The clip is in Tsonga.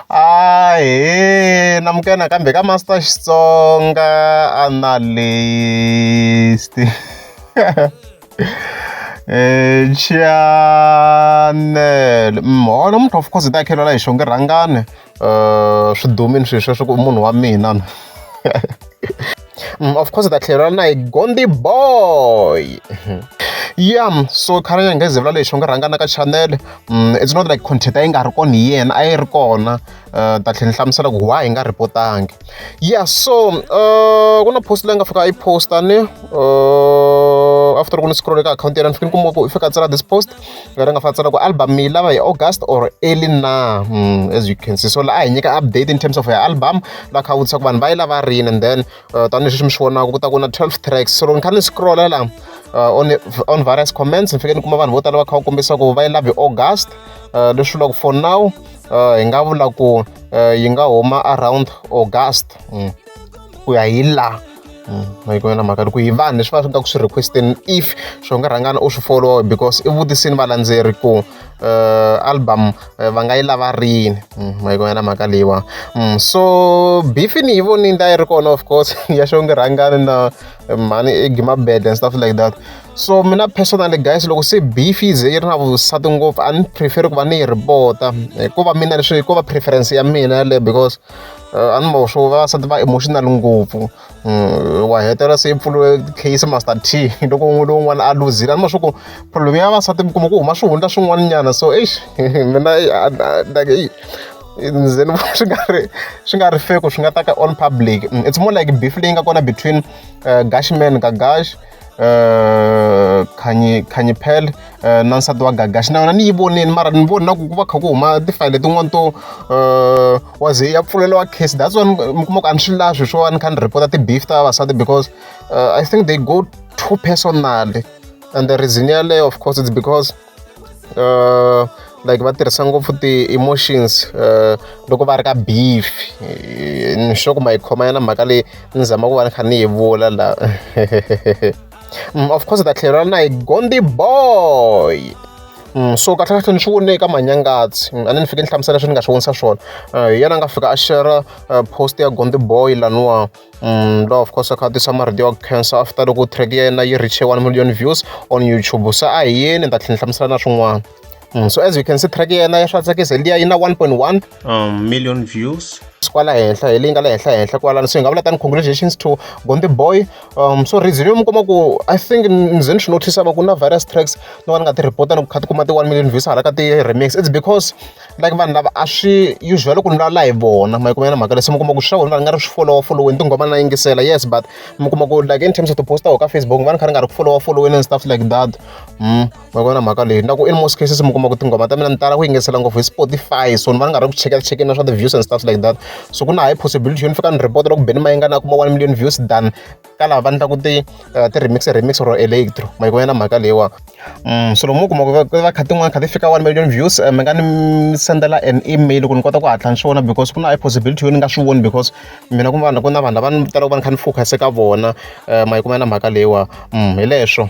a hi na mukena kambe ka master xitsonga analyst eh, chanel mona mm, muthu of course ta khelwela hi xonge rhangane um swi dumini swilo sweswo ku munhu wa mina Mm, of course ta tlhelo ra na hi gondi boy yeah so khale ya ngeze vula lexi u nga rhangana ka channel mm, it's not like content a yi nga ri kona hi yena a yi ri kona eh, ta tlhela ni hlamusela ku why hi nga reportangi yeah so eh, ku na post leyi nga fika a yi posta ni eh, after ku ni scroll ka akhawunti yena ni fike ni kuma ku i fika tsala this post ngati nga fanisa loko album mi yi lava hi august or early na hmm, as you can see so laha hi nyika update in terms of ya album la kha vutisa ku vanhu va yi lava rini and then uh, tanihileswi mi swi vonaka ku ta ku na 12 tracks so loko ni kha ni scrolla la uh, on, on various comments ni fike ni kuma vanhu vo tala va kha va kombisa ku va yi lava hi august uh, leswi vulaka for now hi nga vula ku yi nga huma around august hmm, ku ya hi laha ma yi na mhaka ku hi vanhu leswi va swi nga ku swi requesteni if swo nga rhangana u swi follow because i vutisini valandzeri ku uh, album uh, va nga yi lava rini mm, ma yi na mhaka leyiwa mm, so bifi ni yi voni nda yi ri kona of course ya xo nge rhangani na eh, mhani i gima bed and stuff like that so mina personally guys loko se beef yi ze yi ri na vusati ngopfu a ni preferi ku va ni yi ripota hikuva mina leswi hikuva preference ya mina yaleyo because eh, a ni mavo swo vavasati va emotional ngopfu mm, wa hetelela se i pfuriwe case master t loko un'we lowun'wana a luzile a ni ma swa ku problem ya vavasati mi kuma ku huma swihundla swin'wana nyana so eish mina like ze ni vona swi nga ri swi nga ri feko swi nga ta ka on public mm, it's more like beef leyi nga kona between uh, eh, gashman ka gash eh, khanyi khanyi pel eh, na nsati wa gagaxi na yona ni yi voneni mara ni voni na ku ku va kha ku huma tifayele tin'wani to eh, wa ze ya pfuleliwa case that's one mi kuma ku a ni swi lavi swi swo a ni kha ni report-a ti-beef ta vavasati because eh, i think they go too personally and the reason yaleyo of course it's because uh, like va tirhisa ngopfu ti-emotions uh, loko va ri ka beef ni sure ku ma yi khoma yana mhaka leyi ni zama ku va ni kha ni yi vula la mm, of course ta tlhelo ra na yi gondi boy Mm, so kahlekahle ni swi vone eka manyangatsi mm, a ni ni fike ni hlamusela leswi ni nga swi vonisa swona eh, hi yena a nga fika a shera eh, post ya gonde boy laniwa Mm, lo of course a khatisa marito ya cancer after loko track ya yena yi reache 1 million views on youtube se a hi yeni ni ta tlhela hlamusela na swin'wana mm, so as you can see track ya yena ya swa tsakisa liya yi na 1.1 um, million views kwala henhla hi leyi nga la henhla henhla kwalano so hi nga vula tani congratulations to gonde boy um so reason yo mi kuma ku i think ni ze ni swi notice va ku na various tracks no va ni nga ti report ni ku kha ti kuma ti-one million views hala ka ti-remix it's because like vanhu lava a swi usual loko ni vulavula hi vona ma yi kumela mhaka leswi mi kuma ku swa vona va nga ri swi folowa foloweni tinghoma na yingisela yes but mi kuma ku like in terms of tiposta ka facebook va ni kha ri nga ri ku folowa foloweni and stuff like that mm, ma kumela mhaka leyi na ku in most cases mi kuma ku tinghoma ta mina ni tala ku yingisela ngopfu hi spotify so ni va ni nga ri ku chekela chekela swa ti-views and stuff like that so ku na high possibility yo ni fika ni report loko beni ma yi nga na kuma one million views than ka lava va endlaku ti eh, ti-remix remix ro electro ma yi na mhaka leyiwa mm, swilo mu kuma ku va kha tin'wana kha ti fika one million views eh, mi nga ni sendela an email ku ni kota ku hatla ni swona because ku na possibility yo ni nga swi voni because mina ku vanhu ku na vanhu lava ni talaka va ni kha ni focus ka vona eh, ma yi na mhaka leyiwa mm, hi leswo